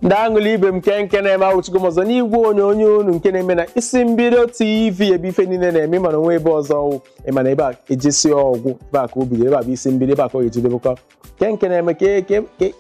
ndị aṅụlị ibe m kee nke na-eme awụchigo m ọzọ n'igwe onyonyo unu nke na-eme na isi mbido tv ebe ife niile na-eme mana o nwe ebe ọzọ ọ wụ ị ma na ebe a ejesi ọ gwụ ebe a ka o bidoro ebe a bụ isi mbido ebe a ka ọ ga-ejedebekwa kee nke na-eme ke ke ke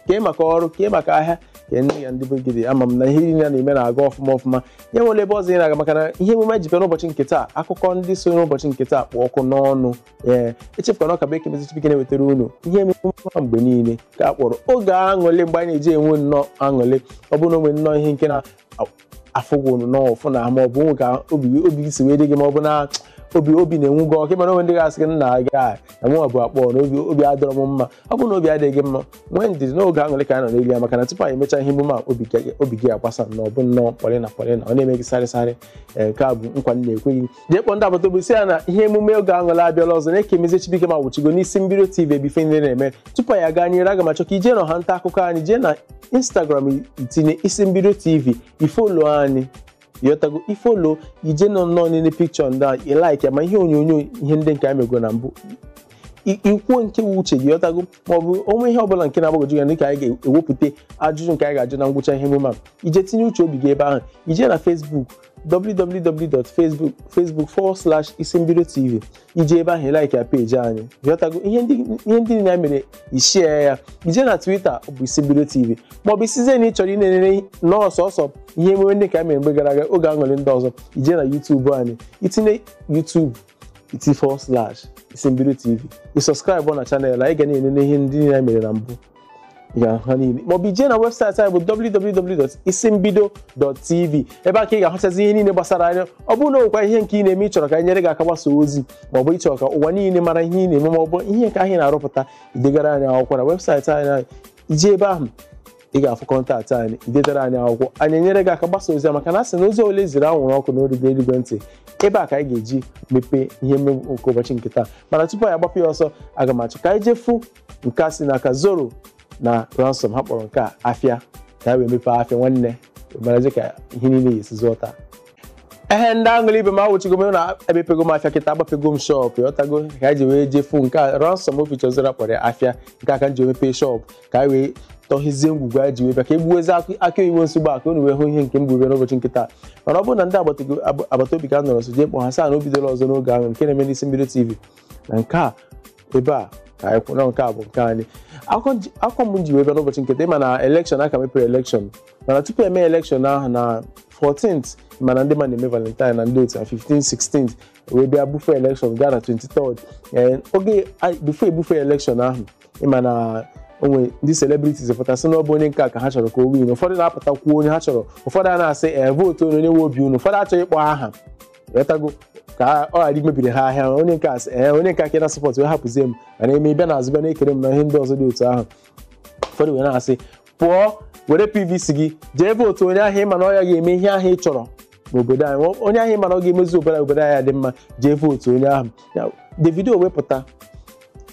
kee maka ọrụ kee maka ahịa kee nne ya ndị be gị dị ama m na ihe niile a na-eme na-aga ọfụma ọfụma ya nwere ebe ọzọ ị na-aga maka na ihe emume ji bịa n'ụbọchị nke taa akụkọ ndị so n'ụbọchị nke taa kpụ ọkụ n'ọnụ ee echefukwana ọ ka bụ ekemezie chibuike na-ewetara unu ihe emume ọma mgbe niile ka a kpọrọ oge aṅụlị mgbe anyị na-eji enwe nnọọ aṅụlị ọ bụrụ na o nwere nnọọ ihe nke na-afụ gị nnọọ ụfụ na ma ọ bụ nwe ka obi obi gị si wee dị gị ma ọ bụ na obi obi na-enwu gị ọkụ mana o nwe ndị ga-asị gị nna gị a na nwa bụ akpọ na obi obi adịrọ m mma ọ bụrụ na obi adịghị gị mma nwee ndidi n'oge aṅụlị ka anyị nọ n'elu ya maka na tupu anyị emechaa ihe emume a obi gị- obi gị agbasa na ọ bụ nnọọ polina polina ọ na-eme gị sarịsarị ee, nke a bụ nkwa m na-ekwe gị jee kpọọ ndị agbata obi sị ya na ihe emume oge aṅụlị abịala ọzọ na ekemezie chibuike m awụchigo n'isi mbido tv ebe ife niile na-eme tupu anyị aga n'iru aga m achọ ka i jee na ọwa nta akụkọ anyị jee na instagram i tinye isi mbido tv i folo anyị ị ghọtago i folo i jee nọ nnọọ n'ile pikchọ ndị a i laik ya ma ihe onyonyo ihe ndị nke anyị mego na mbụ i- i kwuo nke wu uche gị ị ghọtago ma ọ bụ o nwe ihe ọbụla nke na-agbagwoju anya dịka anyị ga-ewepụta ajụjụ nke anyị ga-ajụ na ngwụcha ihe emume a i jee tinye uche obi gị ebe ahụ i jee na facebook www.facebook forward slash isimbido tv i jee ebe ahụ like ya peji anyị ị ghọtago ihe ndị ihe ndị niile anyị mere i share ya i jee na twitter bụ isimbido tv maọbụ ị sịzie na ị chọrọ inenere n'ọsọsọ ihe emume ndị ka anyị mere mgbe gara aga oge aṅụlị ndị ọzọ i jee na youtube anyị i tinye youtube iti forward slash isimbido tv ị sọskraịbụ na chanel anyị ga na-enene ihe ndị niile anyị mere na mbụ ya ha niile maọbụ i jee na webụsaịtị anyị bụ www.isimbido.tv ebe a ka ị ga-ahụchazi ihe niile gbasara anyị ọ bụrụ na o nwekwa ihe nke ị na-eme ị chọrọ ka anyị nyere gị aka gbasa ozi maọbụ ị chọrọ ka ụwa niile mara ihe ị na-eme maọbụ ihe nke anyị na-arụpụta i degara anyị akwụkwọ na webụsaịtị anyị i jee ebe ahụ ị ga-afụ kọntaktị anyị i detara anyị akwụkwọ anyị enyere gị aka gbasa ozi maka na a sị na ozi onye ziri anwụrụ ọkụ na o rugo eluigwe ntị ebe a ka anyị ga-eji mepee ihe emume nke ụbọchị nke taa mana tupu anyị agbapụ ya ọsọ aga m achọ ka anyị jee fụ nke a si n'aka zoro na ransom ha kpọrọ nke a afịa ka ha wee mepee afịa nwanne marazi ka ihe niile si zụọ taa ehe ndị aṅụlị ibe m awụchigo m na emepego m afịa kịta agbapego m shọp ị ghọtago ka anyị ji wee jee fụ nke a ransom feature zoro kpọrọ ya afịa nke a ka m ji emepe shọp ka anyị wee tọhezie ngwugwu anyị ji wee bịa ka e gbuwazie akị oyibo nsogbu a ka unu wee hụ ihe nke m bu bịa n'ụbọchị nke taa mana ọ bụrụ na ndị agbata obi ka anọrọ nso jee kpọọ ha sị ha na o bidola ọzọ n'oge ahụ nke na-eme n'isi mbido tv na nke a ebe a ka anyị kwụ na nke a bụ nke anyị akụkọ m ji- akụkọ m ji wee bịa n'ụbọchị nke taa ịma na elekshọn a ka mepere elekshọn mana tupu eme elekshọn ahụ na 14th ịma na ndị mmadụ na-eme Valentine na ndị otu na 15 16 wee bịa bufe elekshọn gaa na 23rd Ee, oge a- before ebufe elekshọn ahụ ịma na o nwe ndị celebrities pụta sị na ọ bụ onye nke a ka ha chọrọ ka o win ụfọdụ na-apụta kwuo onye ha chọrọ ụfọdụ a na-asị ee vootu onye onye nwe obi unu ụfọdụ achọghị ịkpọ aha ghọtago ka ọ ghara imebiri ha ahịa onye nke a sị ee onye nke a ka ị na-asọpọt wee hapụzie m mana eme bịa n'azụ bịa na-ekere m na ihe ndị ọzọ dị otu ahụ ụfọdụ wee na-asị pụọ were PVC gị jee vootu onye ahụ ịma na ọ ya ga-eme ihe ahụ ị chọrọ n'obodo anyị Ọ- onye ahụ ịma na ọ ga-emezi obodo anyị obodo anyị adị mma jee vootu onye ahụ Ya, Davido wee pụta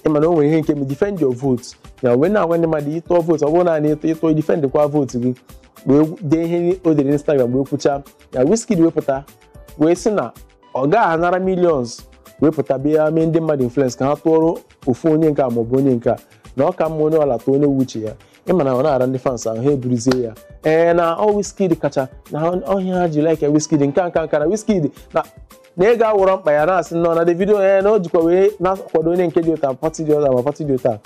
ịma na o nwere ihe nke m defend your vote ya wee na-agwa ndị mmadụ ị tụọ vootu ọ bụrọ naanị ịtụ ị tụọ defend kwa vootu gị wee dee ihe o dere n'Instagram wee kwuchaa ya Wizkid wee pụta wee sị na ọ gaghị anara millions wee pụta bịa mee ndị mmadụ influence ka ha tụọrọ ofu onye nke a maọbụ onye nke a na ọ ka mma onye ọbụla tụọ onye wụ uche ya ịma na ọ na-ara ndị fans ahụ ha eburuzie ya ee na ọ Wizkid kacha na ha- ọ ihe a ha ji like ya Wizkid nke a nke a nke a na Wizkid na na ego awụrọ mkpa ya na-asị nnọọ na Davido ee na o jikwa wee na-akwado onye nke dị otu a pati dị otu a ma pati dị otu a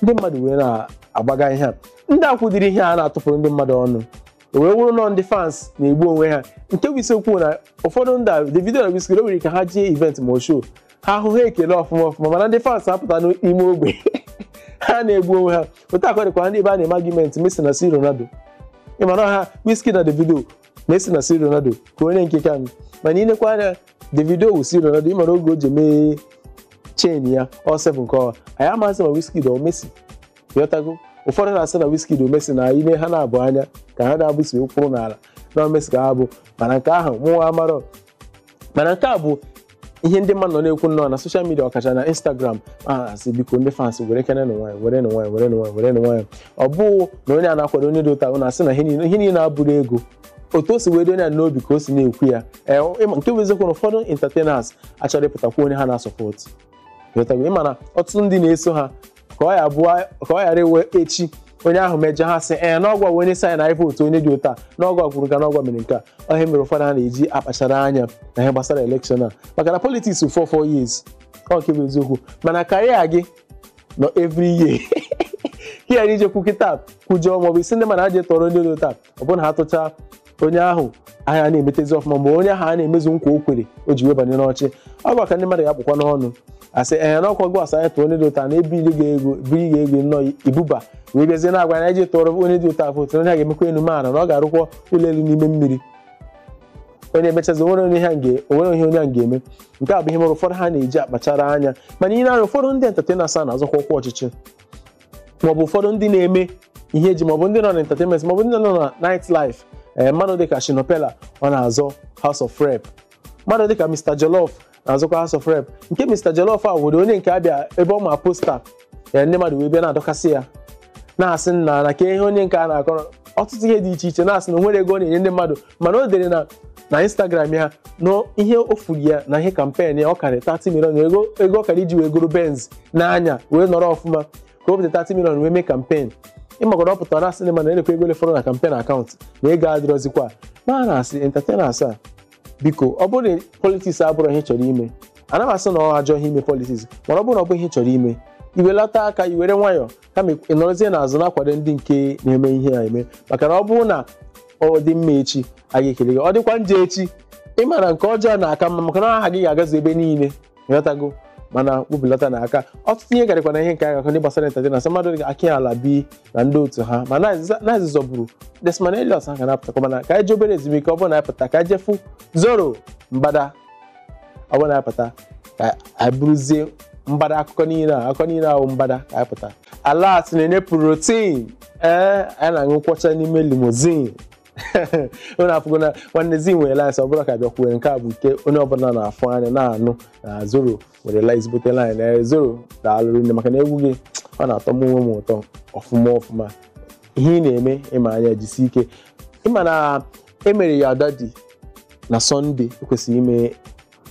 ndị mmadụ wee na-agbagha ihe a ndị a kwụdiri ihe a na-atụpụrụ ndị mmadụ ọnụ o wee wụrụ na ọ ndị fans na-egbu onwe ha nke bụ eziokwu na ụfọdụ ndị a Davido na Wizkid o nwere ka ha jee event ma show ha ahụ ha ekele ọfụma ọfụma mana ndị fans apụta n'ime ogbe ha na-egbu onwe ha otu a ka ọ dịkwa ndị ebe a na-eme argument Messi na C Ronaldo ịmara ha Wizkid na Davido Messi na C Ronaldo ka onye nke ka mana i nekwa anya Davido wụ C Ronaldo ịmara oge o ji mee chain ya ọ 7 nke ọwa anyị amaghịzị ma Wizkid ọ Messi ghọtago ụfọdụ na-asị na Wizkid ọ Messi na i nee ha naabọ anya ka ha naabọ si kwụrụ n'ala na ọ Messi ka ha bụ mana nke ahụ mụwa amarọ mana nke a bụ ihe ndị mmadụ nọ na-ekwu nnọọ na soshal midia ọkacha na Instagram a na-asị biko ndị fans were kene na nwayọ were na nwayọ were na nwayọ were na nwayọ ọ bụghị na onye a na-akwado onye dị otu a ọ na-asị na ihe niile- ihe niile abụrọ ego otu o si wee dị onye a n'obi ka o si na-ekwu ya Ee, ịma- nke bụ eziokwu na ụfọdụ entertainers achọrọ ịpụta kwuo onye ha na-asọpọtụ ịghọtago ịma na ọtụtụ ndị na-eso ha ka ọ ya bụọ ka ọ ghara ịwụ echi onye ahụ mejọọ ha sị ee na ọ gịwa wụ onye sị anyị vootu onye dị otu a na ọ gịwa kwuru nke a na ọ gịwa mere nke a ọ ihe a mere ụfọdụ ha na-eji akpachara anya na ihe gbasara elekshọn a maka na politiks for four years ọ nke bụ eziokwu mana career gị nọ every year ka ya ị jee kwuo kịta kwujọọ maọbụ ị sị ndị mmadụ jee tụọrọ ndị dị otu a ọ bụrụ na ha tụcha onye ahụ ahịa na-emetezi ọfụma ma onye ahụ a na-emezu nkwa o kwere o ji wee banye n'ọchị ọ bụ ka ndị mmadụ ga-akpụkwa n'ọnụ asị ee na ọkwa gị sị anyị tụọ onye dị otu a na ebiri gị ego biri gị ego nnọọ ibuba wee bịazie na-agwa anyị tụọrọ onye dị otu a vootu onye a ga-emekwa enu mee ala na ọ ga-arụkwa ụlọ elu n'ime mmiri onye emechazi onwere onye ha ga onwere ihe onye a ga-eme nke a bụ ihe mere ụfọdụ ha na-eji akpachara anya mana ihe na-anya ụfọdụ ndị entertainers a na-azọkwa ọkwa ọchịchị maọbụ ụfọdụ ndị na-eme ihe eji maọbụ ndị nọ na entertainment maọbụ ndị nọ na night life ee eh, mmadụ dịka Shina Peller ọ na-azọ House of Rep mmadụ dịka Mr Jollof na-azọkwa House of Rep nke Mr Jollof a were onye nke a bịa ebe ọ ma posta ya eh, ndị mmadụ wee bịa na-adọkasị ya na-asị nna na kee ihe onye nke a na-akọrọ ọtụtụ ihe dị iche iche na-asị na o nwere ego ọ na-enye ndị mmadụ mana o dere na na instagram ya na ihe o furu ya na ihe kampen ya ọ karịrị 30 million ego ego ọ kara iji wee goro benz n'anya wee nọrọ ọfụma ka o bute 30 million wee mee kampen ịmagoro ọ pụtara na-asị ndị mmadụ na lekwa ego ole fọrọ na kampen akaụntụ na ego adịrọzikwa ma na asị entertainers a biko ọ bụrụ na politiks abụrụ ihe ị chọrọ ime ana m asị na ọ ajọ ihe ime politiks mana ọ bụrụ na ọ bụ ihe ị chọrọ ime iwelata aka iwere nwayọọ kama ị nọrọzie n'azụ na-akwado ndị nke na-eme ihe a eme maka na ọ bụrụ na ọ dị mma echi a ga-ekele gị ọ dịkwa njọ echi ị ma na nke ọjọọ na-aka mma maka na aha gị ga-agazu ebe niile ịghọtago mana webelata na aka ọtụtụ ihe garịkwa na ihe nke akụkọ ndị gbasara entertainers na mmadụ dị ka Akin Alabi na ndị otu ha ma na-azị zọburu Desmond Elliot ha ga na-apụtakwa mana ka anyị jee obere ezumike ọ bụrụ na anyị pụta ka anyị je fụ zoro mbada ọ bụrụ na anyị pụta ka anyị buruzie mbada akụkọ niile a akụkọ niile ahụ mbada ka anyị pụta alert na-enye protein ee anyị na-aṅụ nkwọcha n'ime limozin onye afụgo na nwanne zi nwere lines ọbụla ka bịa kwuwe nke a bụ nke onye ọbụla na-afụ anya na-anụ na zoro nwere lines bute line na zoro daalụ rinne maka na egwu gị ọ na-atọ m onwe m ụtọ ọfụma ọfụma ihe ị na-eme ịma anya jisi ike ịma na e mere Yadadi na sọnde ekwesịrị ime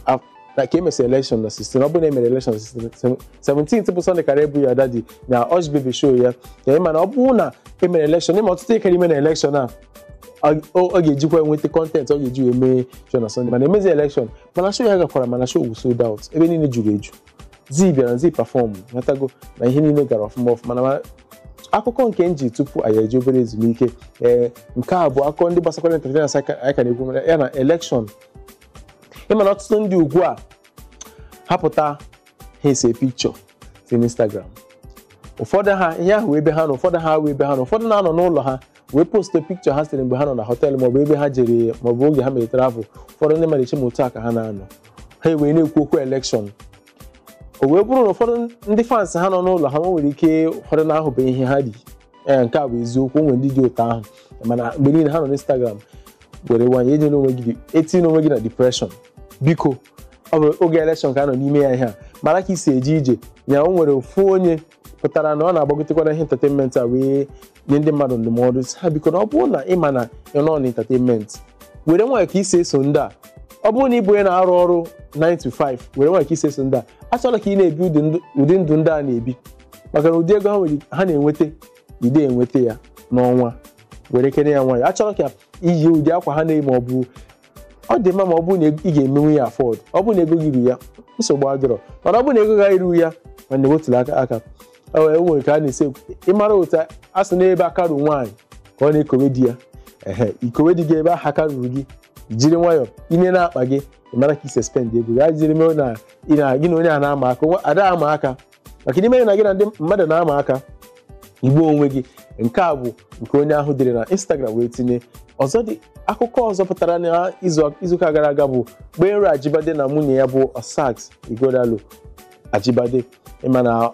af- na ka emesịrị elekshọn na 16 ọ bụrụ na emere elekshọn na 16 17 bụ sọnde kara ịbụ Yadadi na Ushbebe show ya na ịma na ọ bụrụ na emere elekshọn ịma ọtụtụ ihe kara ime na elekshọn a ọ- ọ ọ ga-ejikwa nweta kọntentị ọ ga-eji wee mee show na sọnde mana emezi elekshọn mana show ya gakwara mana show wu sold out ebe niile juru eju zi bịara zi pafọm matago na ihe niile gara ọfụma ọfụma na ma- akụkọ nke m ji tupu anyị ejee obere ezumike ee nke a bụ akụkọ ndị gbasakwara entertainers anyị ka- anyị ka na-ekwu maka ya na elekshọn ịma na ọtụtụ ndị ugbu a ha pụta ha ese pikchọ si n'instagram ụfọdụ ha ihe ahụ ebe ha nọ ụfọdụ ha wee ebe ha nọ ụfọdụ na-anọ n'ụlọ ha wee poste pikchọ ha sere mgbe ha nọ na họteelụ maọbụ ebe ha jere maọbụ oge ha mere travel ụfọdụ ndị mmadụ eche ma otu a ka ha na-anọ ha ewee na-ekwu okwu elekshọn o wee bụrụ na ụfọdụ ndị fans ha nọ n'ụlọ ha nwere ike ụfọdụ na-ahụbeghị ihe ha dị ee nke a bụ eziokwu o nwere ndị dị otu ahụ mana mgbe niile ha nọ n'Instagram were nwayọ enyela onwe gị etinye onwe gị na depression biko ọ bụ oge elekshọn ka a nọ n'ime ya ihe a mara ka i si eje ije ya o nwere ofu onye pụtara na ọ na-agbagotekwa na ihe entertainment a wee nye ndị mmadụ ndụmọdụ sị ha biko na ọ bụrụ na ị ma na ị nọ na entertainment were nwayọ ka i si eso ndị a ọ bụrụ na ị bụ onye na-arụ ọrụ 9 to 5 were nwayọ ka i si eso ndị a achọla ka ị na-ebi ụdị ndụ- ụdị ndụ ndị a na-ebi maka na ụdị ego ha nwere ha na-enweta ị da enweta ya n'ọnwa werekene ya nwayọ achọla ka i yi ụdị akwa ha na-eyi ma ọ bụ ọ dị mma ma ọ bụrụ na ị ga-emenwu ya afford ọ bụrụ na ego gị ruru ya nsogbu adịrọ mana ọ bụrụ na ego gị erurọ ya nwanne wetulata aka e nwere ka a na-esi ekwu ịmara otu a sị na ebe aka ruru nwaanyị ka ọ na-ekowe di ya ehe i kowe di gị ebe ahụ aka ruru gị jiri nwayọọ i nee n'akpa gị ị mara ka i si spend ego gị ajiri mee na gị na onye a na-ama aka ada ama aka maka na i mee na gị na ndị mmadụ na-ama aka i gbuo onwe gị nke a bụ nke onye ahụ dere na Instagram wee tinye ọzọ dị akụkọ ọzọ pụtara na izuụka gara aga bụ Gbenro Ajibade na nwunye ya bụ Osas Ighodalo Ajibade ịma na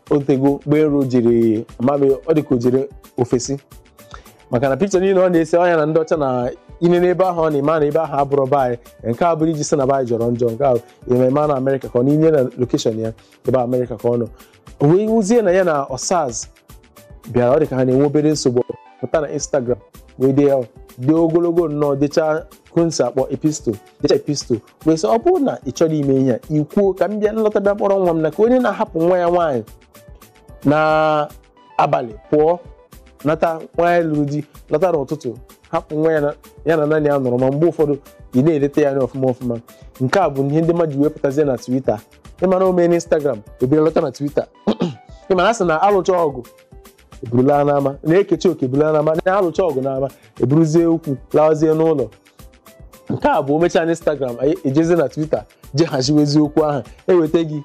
o teego Gbenro jiri amaghị m ọ dịka o jere ofesi maka na pikcha niile ọ na-ese ọ ya na ndị ọcha na i nene ebe ahụ ọ na-eme na ebe ahụ abụrọ be anyị nke a abụrọ iji sị na be anyị jọrọ njọ nke ahụ ememe na amerịka ka ọ na-etinye na lokeshọn ya ebe amerịka ka ọ nọ o wee wụzie na ya na Osas bịara ọ dị ka ha na-enwe obere nsogbu pụta na instagram wee dee ya dị ogologo nnọọ deecha ka unu si akpọ epistle deecha epistle wee sị ọ bụrụ na ị chọrọ ime ihe a i kwuo ka m bịa m lọta bịa kpọrọ nwa m na ka onye na-ahapụ nwa ya nwaanyị na abalị pụọ nata nwaanyị lụrụ di lọta n'ụtụtụ hapụ nwa ya na- ya na nanny ya nọrọ ma mgbe ụfọdụ ị na-eleta ya anya ọfụma ọfụma nke a bụ ihe ndị mmadụ ji wee pụtazie na Twitter ịmara o mee n'Instagram e buru lọta na Twitter ịmara a sị na a lụcha ọgụ e buru laa n'ama na e kechaa oke e buru laa n'ama na a lụcha ọgụ n'ama e buruzie okwu lawazie n'ụlọ nke a bụ o mechaa na instagram e jezie na twitter je haziwezie okwu ahụ eweta gị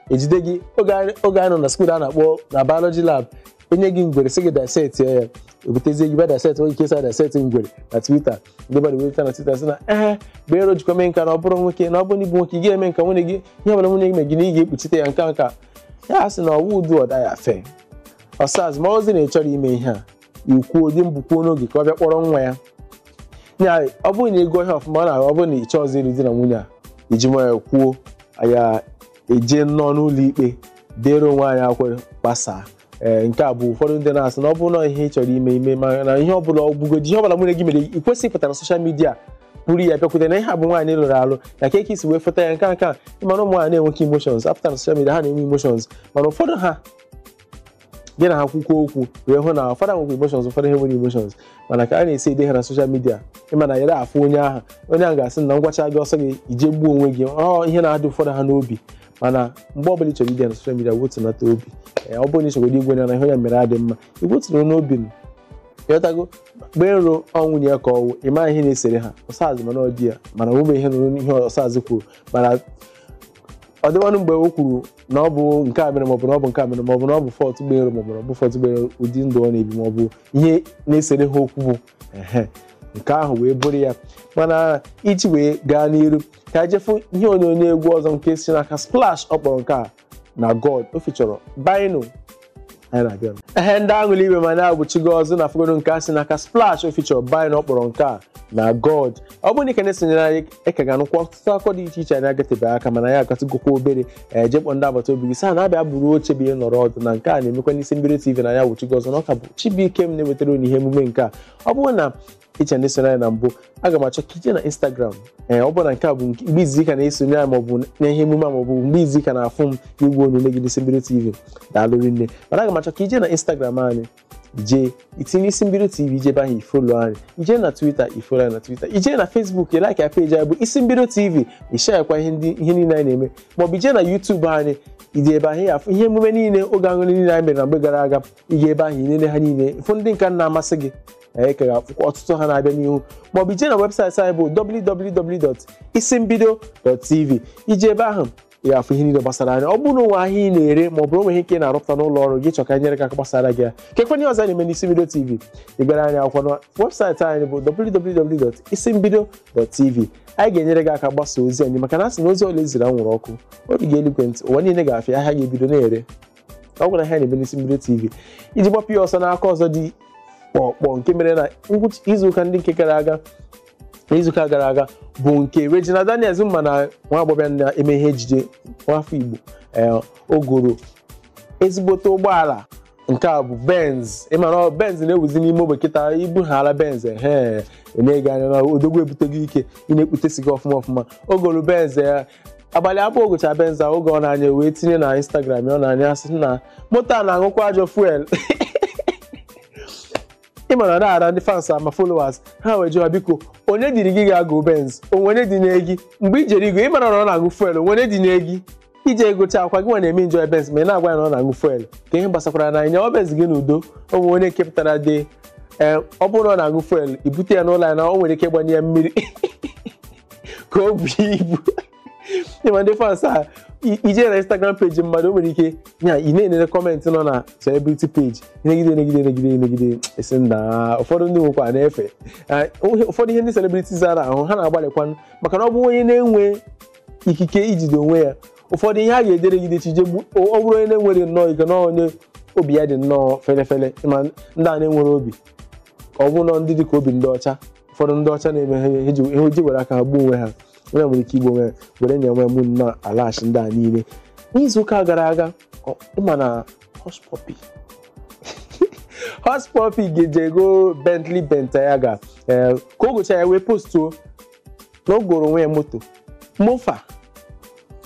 ejide gị oge anyị oge anyị nọ na skuul a na-akpọ na biology lab enye gị ngwere sị gị dissect ya ya ebutezie gị bịa dissect onye nke sa dissect ngwere na twitter ndị mmadụ wee pụta na twitter sị na ee Gbenro jikwa mee nka na ọ bụrụ nwoke na ọ bụrụ na ị bụ nwoke ị ga-eme nka nwunye gị ihe ọbụla nwunye gị mee gị na ị ga-ekpuchite ya nka nka ya sị na ọwụ udu ọda ya fe Osas ma ozi na ị chọrọ ime ihe a i kwuo di mbụ kwuo n'oge ka ọ bịa kpọrọ nwa ya ya ọ bụrụ na ị gụọ ihe ọfụma ọ na-ahụ ọ bụrụ na ị chọọzi ịlụ di na nwunye a i ji nwayọ kwuo ya e jee nnọọ n'ụlọ ikpe deere onwe anyị akwere gbasaa ee nke a bụ ụfọdụ ndị na-asị na ọ bụrụ na ihe ị chọrọ ime ime ma na ihe ọbụla ọ bụgodi ihe ọbụla nwunye gị mere ị kwesịghị ịpụta na soshal midia buru ya bịakwute na ihe a bụ nwaanyị lụrụ alụ na ka esi wee feta ya nke nka ị ma na ụmụ nwaanyị na-enweghị emotions apụta na soshal midia ha na-enwe emotions mana ụfọdụ ha gị na ha kwukwa okwu wee hụ na ụfọdụ nwekwa emotions ụfọdụ ha nwere emotions mana ka a na-esi ede ha na soshal midia ị ma na yere afụ onye ahụ onye ahụ ga-asị na m gwachaa gị ọ sọ gị i jee gbuo onwe gị ọ ihe na-adị ụfọdụ ha n'obi mana mgbe ọbụla ị chọrọ ide na soshal midia wetunata obi ee ọ bụrụ na ị chọrọ ịgwa ya na ihe onye mere adịghị mma ị gwatụrụ n'obi ọma ị ghọtago Gbenro ọ nwunye ya ka ọ wụ ị maghị ihe na-esere ha Osas mana ọ dị ya mana o nwebe ihe m nụrụ ihe Osas kwuru mana ọ dịwanụ mgbe o kwuru na ọ bụ nke a mere maọbụ na ọ bụ nke a mere maọbụ na ọ bụ fọt Gbenro maọbụ na ọ bụ fọt Gbenro ụdị ndụ ọ na-ebi maọbụ ihe na-esere ha okwu bụ ehe nke ahụ wee bụrụ ya mana iji wee gaa n'iru ka anyị jee fụ ihe onyonyo egwu ọzọ nke si n'aka splash ọ kpọrọ nke a na god o fichọrọ Byno anyị na-abịa nụ. ehe ndị aṅụli ibe m anyị abịachigo ọzọ anyị afụgodu nke a si n'aka splash o fichọrọ Byno ọ kpọrọ nke a na god ọ bụrụ na ị ka na-esonyere anyị ị ka ga-anụkwa ọtụtụ akụkọ dị iche iche anyị agatebe aka mana anyị agatụgokwa obere jee kpọọ ndị agbata obi gị sị ha na bịa buru oche bịa nọrọ ọdụ na nke a na-emekwa n'isi mbido tv anyị abịachigo ọzọ na ọ ka bụ chibuike m na-ewetara unu ihe emume nke a ọ bụrụ na ị ka na-esonye anyị na mbụ aga m achọ ka i jee na instagram ee ọ bụrụ na nke a bụ mgbe izizi ị ka na-esonye anyị maọbụ na ihe emume a maọbụ mgbe izizi ị ka na-afụ m n'igwe onyonyo gị n'isi mbido tv daalụ rinne mana aga m achọ ka i jee na instagram anyị i jee i tinye isi mbido tv i jee ebe ahụ i folo anyị i jee na twitter i folo anyị na twitter i jee na facebook like ya peji anyị bụ isi mbido tv i sheyakwa ihe ndị ihe niile anyị na-eme maọbụ i jee na youtube anyị i jee ebe ahụ ị ya-afụ ihe emume niile oge aṅụrị niile anyị mere na mgbe gara aga ị gaa ebe ahụ i nene ha niile fụ ndị nke na-amasị gị ị ka ga-afụkwa ọtụtụ ha na-abịa n'ihu maọbụ i jee na webụsaịtị anyị bụ www.isimbido.tv i jee ebe ahụ ị ga-afụ ihe niile gbasara anyị ọ bụrụ na o nwee ahịa ị na-ere maọbụ o nwee ihe nke ị na-arụpụta n'ụlọ ọrụ gị ị chọọ ka anyị nyere gị aka gbasaara gị ya kekwanụ ihe ọzọ anyị na-eme n'isi mbido tv zigara anyị akwụkwọ na webụsaịtị anyị bụ www.isimbido.tv anyị ga-enyere gị aka gbasaa ozi anyị maka na a sị na ozi ọbụla e ziri anwụrụ ọkụ o buga eluigwe ndị ụwa niile ga-afụ ya ahịa ga-ebido na-ere ọ gwara ha na-eme n'isi mbido tv iji gbapụ ya ọsọ n'akụkọ ọzọ dị kpọkpọ nke mere na ngwụcha izuụka ndị nke gara aga na izuụka gara aga bụ nke Regina Daniels ị ma na nwa agbọghọ na-eme ihe ejije nwafọ Igbo ee, o goro ezigbote ụgbọala nke a bụ benz ị ma na ọ benz na-ewuzi n'ime ogbe kịta i buhaala benz ehe na-ene gị anya na odogwu ebutego ike ị na-ekputesi gị ọfụma ọfụma o goro benz ya abalị abụọ o gocha benz a oge ọ na-anya wee tinye na instagram ya ọ na-anya asị na moto a na-aṅụkwa ajọ fuel ị mara na ara ndị fans ama followers ha wee jụwa biko onye duru gị ga-ego benz o nwe onye dunye gị mgbe i jere igo ya ị mara na ọ na-aṅụ fuel o nwe onye dunye gị i je egocha akwa gị nwa na-eme enjoy benz ma ị na-agwa anyị na ọ na-aṅụ fuel kee ihe gbasakwara anyị nyawa benz gị n'udo o nwe onye nke pụtara dee ọ bụrụ na ọ na-aṅụ fuel i bute ya n'ụlọ ya na o nwere ike ịgbanye ya mmiri ka o buo ibu ị ma ndị fans a i- i je na instagram page mmadụ o nwere ike ya ị na-enere comment nọ na celebrity page negide negide negide negide esi na ụfọdụ ndị nwekwa na-efe Ah, ụhe- ụfọdụ ihe ndị celebrities a na-ahụ ha na-agbalịkwanụ maka na ọ bụrụ onye na-enwe ikike ijide onwe ya ụfọdụ ihe a ga-edere gide chije gbu- ọ ọ bụrụ onye na-enwere nnọọ ike na onye obi ya dị nnọọ fele fele ị ma ndị a na-enwere obi ka ọ bụrụ na ndị dị ka obi ndị ọcha ụfọdụ ndị ọcha na-eme ha ihe ji- ihe ji were aka ha gbuo onwe ha onye nwere ike igbu onwe ya were nye nwe mụ na alachi ndị a niile n'izu ụka gara aga ọ- ị ma na hushpuppi hushpuppi ga-ejego bentley bentayga ee ka o gocha ya wee postuo na o goro onwe ya moto mompha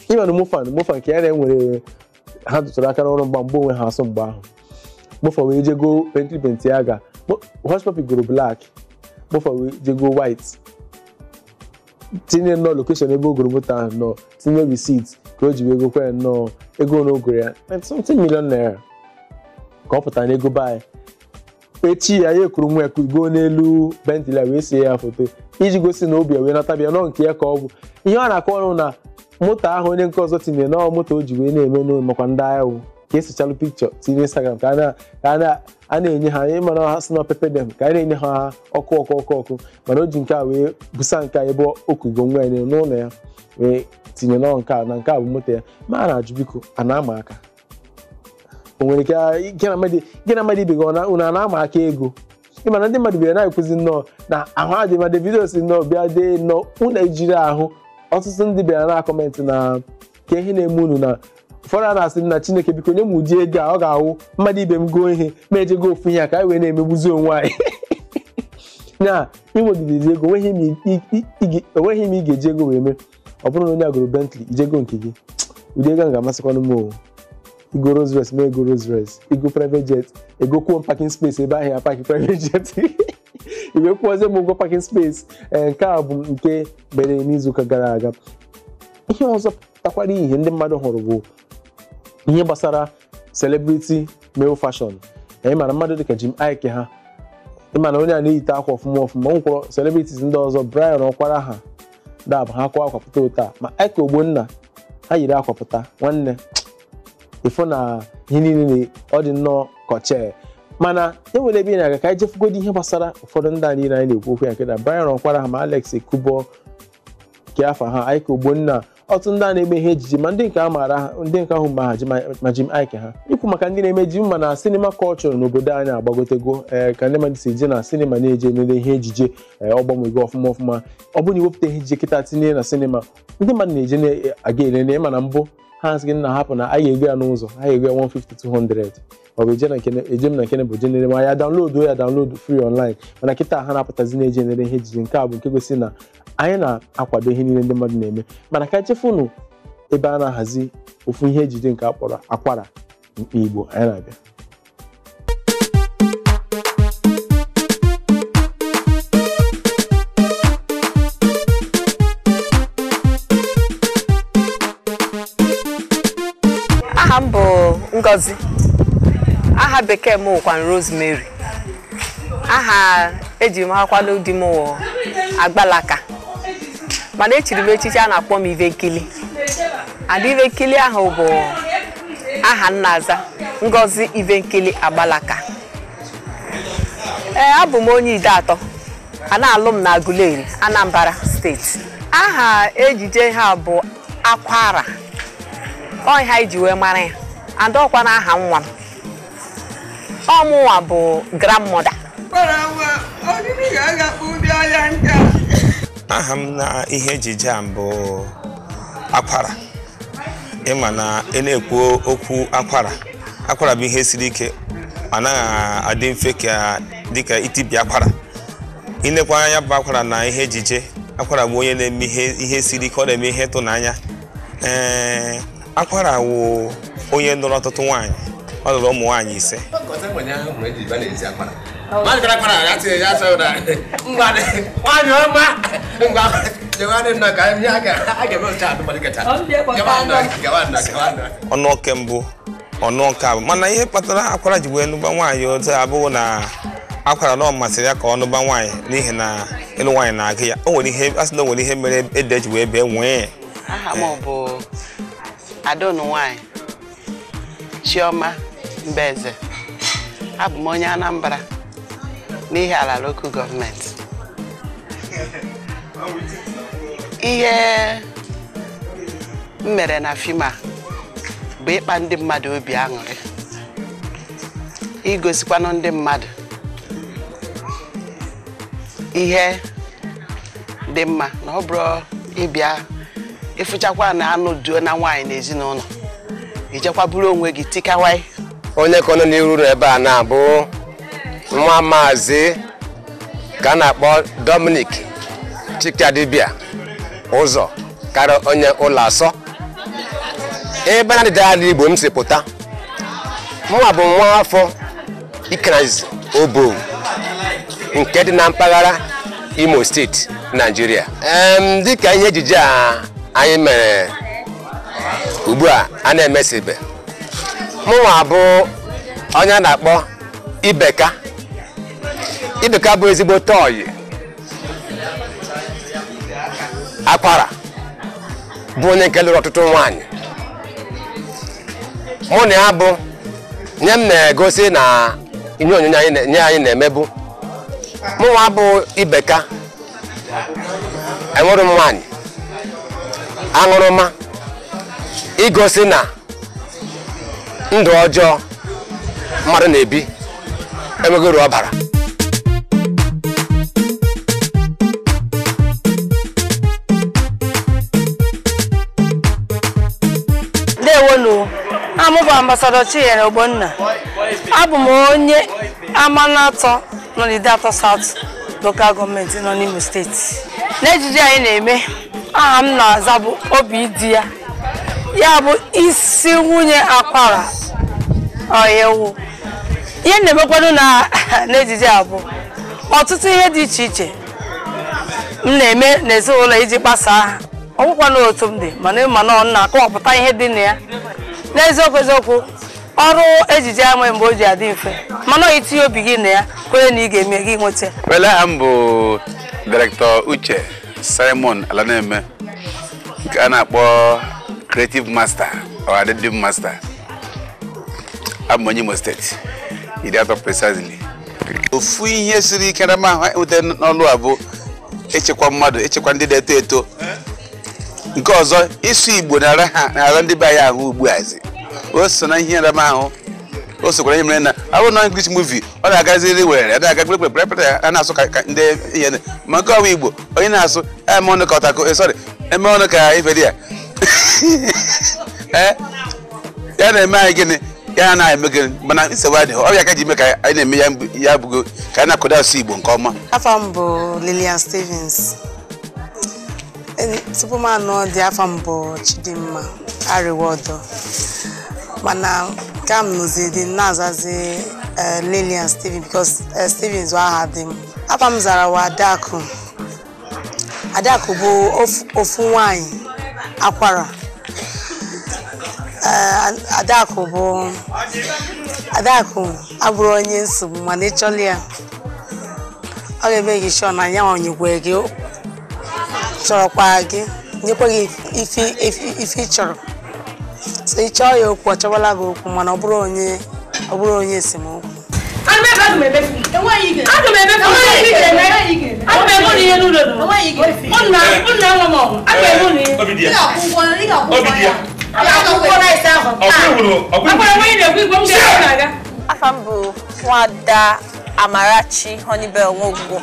ị ma na mompha na mompha nke ya na-enwere ha tụtụrụ aka n'ọrụ mgba mgbe onwe ha asụ mgbe ahụ mompha wee jego bentley bentayga hushpuppi goro black mompha wee jego white tinye nnọọ location ebe o goro moto ahụ nnọọ tinye receipt ka o ji wee gokwa ya nnọọ ego na o goro ya 90 million naira ka ọ pụtara n'ego be anyị echi ya ya ekuru nwa ya kugo n'elu bentley a wee sie ya foto iji gosi na obi ya wee nata bịa nọ nke ya ka ọ bụ ihe ọ na-akọ ọrụ na moto ahụ onye nke ọzọ tinyere na ọ moto o ji wee na-eme n'ụlọ makwa ndị agha wụ ka e sechalụ picture tinye instagram ka a na- ka a na- a na-enye ha ị ma na ha sị na pepper dem ka a na-enye ha ọkụ ọkụ ọkụ ọkụ mana o ji nke a wee busa nke a ebe o kugo nwa ya n'elu ya wee tinye na nke a na nke a bụ moto ya ma a na-ajụ biko a na-ama aka o nwere ike ah, gị na mmadụ gị na mmadụ ibe gị ọ na- unu a na-ama aka ego ị ma na ndị mmadụ bịara na-ekwuzi nnọọ na ahụ adị ma Davido si nnọọ bịa dee nnọọ unu ejirọ ahụ ọtụtụ ndị bịara na comment na kee ihe na-eme unu na ụfọdụ a na-asị na Chineke biko nye m ụdị ego a ọ ga-awụ mmadụ ibe m goo ihe mụ ejego ofu ihe a ka anyị wee na-emegbuzi onwe anyị na i nwegidezi ego onweghị m i- i- i- i- onweghị m ị ga-eji ego wee mee ọ bụrụ na onye a goro Bentley i jego nke gị ụdị ego ahụ ga-amasịkwanụ m o i goo Rolls Royce mụ ego Rolls Royce i goo private jet egokwuo m parking space ebe ahụ ị ya park private jet i wee kwụọzie m ụgwọ parking space ee nke a bụ nke mere n'izuụka gara aga ihe ọzọ pụtakwara ihe ndị mmadụ hụrụ bụ ihe gbasara celebrity male fashion anyị ma na mmadụ dịka Jim Iyke ha ịma na onye a na-eyite akwa ọfụma ọfụma o nwekwara celebrities ndị ọzọ Bryan Okwara ha dab ha kwa akwa pụta otu a ma Ike Ogbonna ha yiri akwa pụta nwanne ịfụ na ihe niile na ọ dị nnọọ kọchee mana e nwere ebe ị na-aga ka anyị jefegodi ihe gbasara ụfọdụ ndị a niile anyị na-ekwu okwu ya nke na Bryan Okwara ha ma Alex Ekubo nke afọ ha Ike Ogbonna ọtụtụ ndị a na-eme ihe ejije ma ndị nke a maara ha ndị nke ahụ ma ha ji ma- ma Jim Iyke ha ikwu maka ndị na-eme ejije ịma na cinema culture n'obodo anyị agbagotego ee ka ndị mmadụ si eje na sinima na-eje elele ihe ejije ee, ọ gbanwego ọfụma ọfụma ọ bụrụ na i wepụta ihe ejije kịta tinye na sinima ndị mmadụ na-eje na-aga elele ịma na mbụ ha asị gị nna hapụ na anyị ga-ego ya n'ụzọ anyị ga-ego ya 150 200 ọ bụ eje na nke eje m na nke bụ je nere ma ya download ya download free online mana kịta ha na-apụtazi na-eje nere ihe ejije nke a bụ nke gosi na anyị na-akwado ihe niile ndị mmadụ na-eme mana ka jefenụ ebe a na-ahazi ofu ihe ejije nke a kpọrọ akwara mkpa igbo anyị na-abịa aha m bụ ngozi aha bekee m wụkwanụ rosemary aha e ji makwanụ di m wụ agbalaka mana echiri m echichi a na-akpọ m ivenkili and ivenkili ahụ bụ aha m na-aza ngozi ivenkili agbalaka ee abụ m onye ideato a na-alụ m na aguleri anambra steeti aha ejije a bụ akwara ọ ihe e ji wee mara ya and ọkwa na aha nwa m ọ mụnwa bụ grandmother kpara nwa ọdịdị ga-agakpụ ụdị ahịa nke a aha m na ihe ejije a bụ akwara ịma na ị na-ekwu okwu akwara akwara bụ ihe siri ike ọ naghị adị mfe ka dịka itibi akwara i nekwa nya bụ akwara na ihe ejije akwara bụ onye na-eme ihe ihe siri ike ọ na-eme ihe ịtụnanya ee akwara wụ onye nụrụ ọtụtụ nwaanyị ọ lụrụ ụmụ nwaanyị ise ọ nụọ nke mbụ ọ nụọ nke abụọ mana ihe kpatara akwara ji wee nụba nwaanyị otu a abụghị na akwara na ọ masịrị ya ka ọ nụba nwaanyị n'ihi na ịlụ nwaanyị na-agụ ya o nwere ihe a sị na o nwere ihe mere ede ji wee bee nwii aha m bụ ada unu nwanyị chioma mbaeze abụ m onye anambra n'ihiala lokal gọọmenti ihe m mere na fim a bụ ịkpa ndị mmadụ obi aṅụrị igosikwanụ ndị mmadụ ihe dị mma na ọ bụrụ ị bịa ị fụchakwa na a nụduona nwaanyị na ezinụlọ i jekwa buru onwe gị tikawai onye kwụ unu n'iru na ebe a na-abụ nwa maazị ka a na-akpọ Dominic Chikadibia ụzọ karịa onye ụlọ asọ ebe na ndịda ala Igbo m si pụta mụnwa bụ nwa afọ Ikenanzizi Obowo nke dị na mpaghara Imo steeti Naijiria Em, dịka ihe ejije a anyị mere ugbu a a na-emesibe mụnwa bụ onye a na-akpọ Ibeka Ibeka bụ ezigbote ọyị akwara bụ onye nke lụrụ ọtụtụ nwaanyị mụ na ya bụ na ihe m na-egosi na ihe onyonyo anyị na-eme bụ mụnwa bụ ibeka enwere m nwaanyị aṅụrụma igosi na ndụ ọjọọ mmadụ na-ebi enweghị uru ọ bara ndewonu aha m bụ ambasadọ chinyere ogbonna abụ m onye amanatọ nọ n'ideatọ saut lokal gọọmenti nọ n'imo steeti n'ejije anyị na-eme aha m na-aza bụ obi di ya ya bụ isi nwunye akwara ọyewu ihe m na-emekwanụ n'ejije a bụ ọtụtụ ihe dị iche iche m na-eme n'ezinụlọ iji gbasaa ha ọ bụkwa na otu m dị mana ị ma na ọ na-akọwapụta ihe dị na ya n'eziokwu eziokwu ọrụ ejije a nwee mgbe o ji adị mfe mana i tinye obi gị na ya kwere na ị ga-eme gị nweta ya. Well, aha m bụ Director Uche Simon Alaneme nke a na-akpọ creative master or adịdị master abụ m onye Imo steeti Ideatọ precisely ofu ihe siri ike m na-enweta n'ọlụ a bụ ịchịkwa mmadụ ịchịkwa ndị na-eto eto nke ọzọ ịsụ igbo na-ara ndị be anyị ahụ ugbu a zi o so na ihe nrama ahụ o sokwara ihe mere na abụ na English movie ọ na-agaziri were na-aga kpekpekpekpe a na-asụ ka ndị ihe ma nke ọwa igbo onye na-asụ eme ọnụ ka ọtakụ eh, sorry eme ọnụ ka ife dị ya eh, ya na-eme anyị gịnị ya na-eme gịnị mana nsogbu adịghị ọ ya ka e ji eme ka anyị na-eme ya abụgo ka anyị na-akwado asụ Igbo nke ọma afa m bụ Lillian Stevens tupu m anụ di afa m bụ Chidimma Ariwodo mana nke a m nụzi di na-azazi eh, Lillian Stevens because Stevens aha di m Afa m zara wụ Adaku. Adaku bụ ofu nwanyị Akwara. Eh, Adaku bụ Adaku abụrọ onye nsogbu mana ị chọọla ya ọ ga-emake sure na ya enyekwa gị chọrọkwa gị nyekwa gị ife ị chọrọ so ị chọọ ya okwu ọ chọwala gị okwu mana ọ bụrọ onye ọ bụrọ onye esemokwu afa m bụ nwada amarachi honeybell nwogbo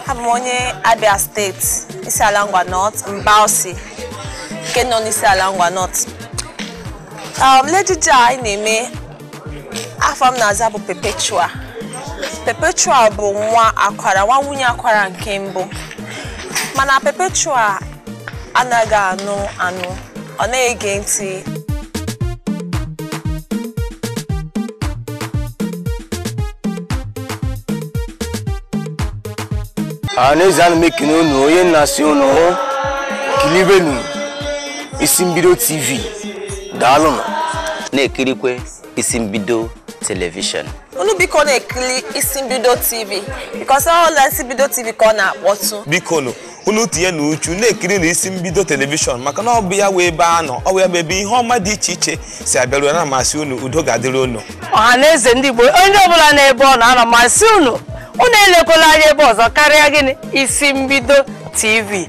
abụ m onye abia state isiala ngwa north mbawsi nke nọ n'isiala ngwa north um, n'ejije a anyị na-eme afa m na-aza bụ Perpetua Perpetua bụ nwa Akwara nwa nwunye Akwara nke mbụ mana Perpetua anaghị anụ anụ ọ na-ege ntị n'ezie ana m ekene unu onye na-asị unu kilibenụ isi mbido tv daalụnụ na-ekirikwe isi mbido telivishọn unu biko na-ekiri isi mbido tv because ọ la isi mbido tv ka ọ na-akpọtụ bikonụ unu tinye na uchu na-ekiri na isi mbido telivishọn maka na ọ bụ ya wụ ebe a nọ ọ bụ ya bụ ebe ihe ọma dị iche iche si abịaru ana m asị unu udo ga-adịrị unu ọha na eze ndị igbo onye ọbụla n'ebe ọ nọ ana m asị unu unu elekwala anya ebe ọzọ karịa gịnị isi mbido tv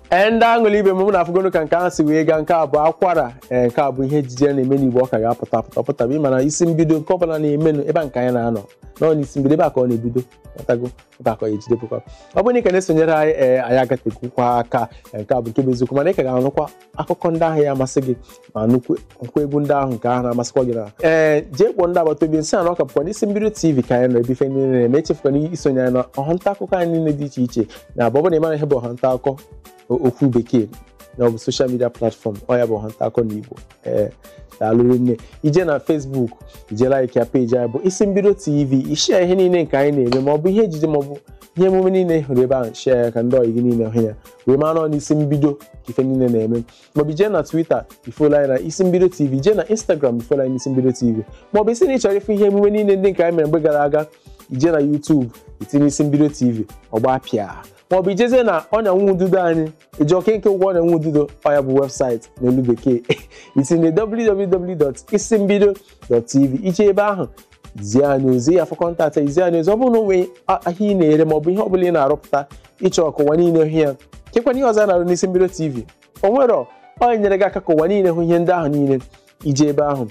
ee ndị aṅụlị ibe m unu afụgonụ ka nke ahụ si wee gaa nke a bụ akwara ee nke a bụ ihe ejije a na-eme n'igbo ọ ka ga-apụta apụta ọ pụtara ị ma na isi mbido nke ọbụla na-emenụ ebe a nke anyị na-anọ nọ n'isi mbido ebe a ka ọ na-ebido matago ebe a ka ọ ga-ejedebekwa ọ bụrụ na ị ka na-esonyere anyị ee anyị agatekwukwa aka ee, nke a bụ nke bụ eziokwu mana ị ka ga-anụkwa akụkọ ndị ahụ ya amasị gị ma nụkwukwa egwu ndị ahụ nke ahụ na-amasịkwa gị na ee jee kpọọ ndị agbata obi sị na ọ ka bụkwa n'isi mbido tv ka anyị nọ ebe ife niile na-eme echefukwana isonye anyị na ọha nta akụkọ anyị niile dị iche iche na abụ ọ bụrụ na ị mara ihe bụ ọha nta akụkọ o- okwu bekee na ọ bụ social media platform ọ ya bụ ọha nta akụkọ na igbo ee daalụ rinne ije na Facebook ije like ya page anyị bụ isi mbido tv i share ihe niile nke anyị na-eme ma ọ bụ ihe ejije ma ọ bụ ihe emume niile ị hụrụ ebe ahụ share ya ka ndị ọyị gị niile hụ ya wee mara n'isi mbido ka ife niile na-eme maọbụ jee na Twitter i follow anyị na isi mbido tv jee na Instagram i follow anyị na isi mbido tv maọbụ ị sị na ị chọrọ ịfụ ihe emume niile ndị nke anyị mere mgbe gara aga ije na YouTube itinye isi mbido tv ọ gbapịa maọbụ ijezie na ọnya nwa ududo anyị eji oke nke ụgwọ ọnya nwa ududo ọ ya bụ website n'olu bekee itinye www.isimbido .tv ije ebe ahụ zie anyị ozi ị ya-afụ contact anyị zie anyị ozi ọ bụrụ na o nwee ahịa ị na-ere ma ọ bụ ihe ọ bụla ị na-arụpụta ị chọọ ka ụwa niile hụ ya kekwanụ ihe ọzọ a na-arụ n'isi mbido tv o nwere ọ nyere gị aka ka ụwa niile hụ ihe ndị ahụ niile ije ebe ahụ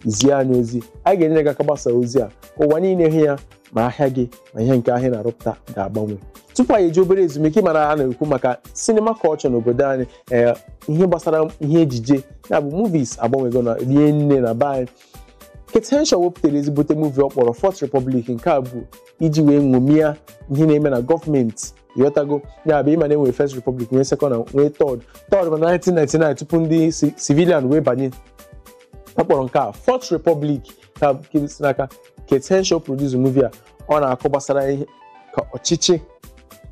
zie anyị ozi anyị ga-enyere gị aka gbasa ozi a ka ụwa niile hụ ya ma ahịa gị ma ihe nke ahụ ị na-arụpụta ga-agbanwe tupu anyị ejee obere ezumike mara a na-ekwu maka sinima culture n'obodo anyị ee ihe gbasara ihe ejije ya bụ movies agbanwego na rie nne na be anyị Kate Henshaw wepụtara ezigbote movie ọ kpọrọ Fourth Republic nke a bụ iji wee ṅomie ihe na-eme na gọọmenti ịghọtago ya bụ ịma na e nwere First Republic nwee Second na nwee Third Third bụ na 1999 tupu ndị civilian wee banye ọ kpọrọ nke a Fourth Republic ka nke si n'aka Kate Henshaw produce movie a ọ na-akọ gbasara ihe ka ọchịchị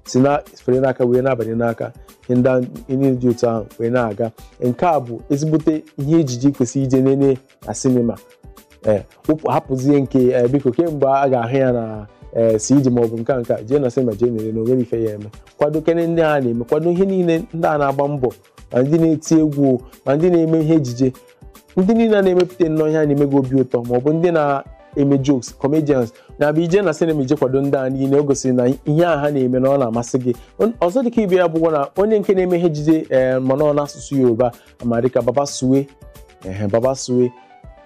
si na-afere n'aka wee na-abanye n'aka ihe ndị ahụ- ihe niile dị otu ahụ wee na-aga nke a bụ ezigbote ihe ejije kwesịrị ije nene na sinima ee wụpụ hapụzie nke ee, biko kee mgbe a ga-ahụ ya na ee cd maọbụ nke a nke a jee na sinima jee nere na o nwere ife ya eme kwadokene ndị a na-eme kwado ihe niile ndị a na-agba mbọ ma ndị na-eti egwu o, ma ndị na-eme ihe ejije ndị niile a na-emepụta nnọọ ihe a na-eme gị obi ụtọ ma ọ bụ ndị na-eme jokes comedians na-abịa ije na sinima ije kwado ndị a niile o gosiri na ihe a ha na-eme na ọ na-amasị gị On- ọzọ dịka ibe ya bụkwa na onye nke na-eme ihe ejije ee mana ọ n'asụsụ Yoruba a ma dịka Baba Suwe ehe Baba Suwe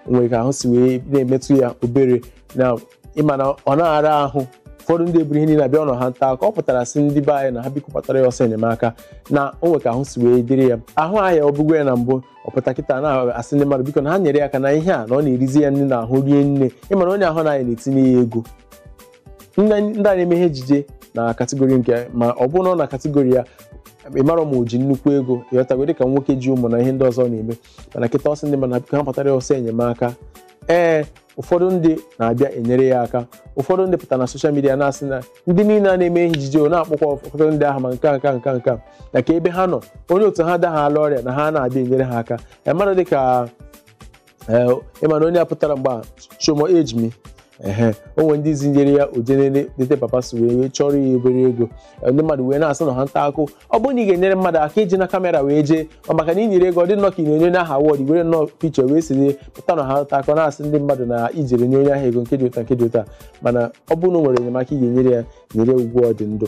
nwere ka ahụ si wee na-emetụ ya obere na ịma na ọ na-ara ahụ ụfọdụ ndị eburu ihe niile abịa ọ n'ọha nta ka ọ pụtara sị ndị be anyị na ha biko gbatara ya ọsọ enyemaka na o nwere ka ahụ si wee dịrị ya ahụ arịabugo ya na mbụ ọ pụta kịta na-asị ndị mmadụ biko na ha nyere ya aka na ihe a na ọ na-erizi ya nri n'ahụ rie nne ịmara onye ahụ na anyị na-etinye ya ego ndị anyị na-eme ihe ejije na category nke ma ọ bụrụ na ọ na category ya ịmara ma o ji nnukwu ego ịghọtago dịka nwoke ji ụmụ na ihe ndị ọzọ na-eme mana kịta ọ sị ndị mmadụ na-apụta ha gbatara ya ọsọ enyemaka ee ụfọdụ ndị na-abịa enyere ya aka ụfọdụ ndị pụtara na soshal midia na-asị na ndị niile a na-eme ihe ejije o na-akpọkwa ụfọdụ ndị ahụ ma nke a, nke a, nke a, nke a, na ka ebe ha nọ onye otu ha adaala ọrịa na ha na-abịa enyere ha aka ee mmadụ dịka ee ị ma na onye a pụtara mgbe a Sho mo age mi ehe o nwere ndị zinyere ya o jere lete Baba Suwe wee chọrọ ya obere ego ndị mmadụ wee na-asị na ha nta akụ ọ bụrụ na ị ga-enyere mmadụ aka ejina kamera wee jee ọ maka na i nyere ego ọ dị nnọọ ka ị na-enye onye ahụ awọd were nnọọ pichọ wee siri pụta na ha nta akụ na-asị ndị mmadụ na i jere nye onye ahụ ego nke dị otu a nke dị otu a mana ọ bụrụ na o nwere enyemaka ị ga-enyere ya nyere ugbu a ọ dị ndụ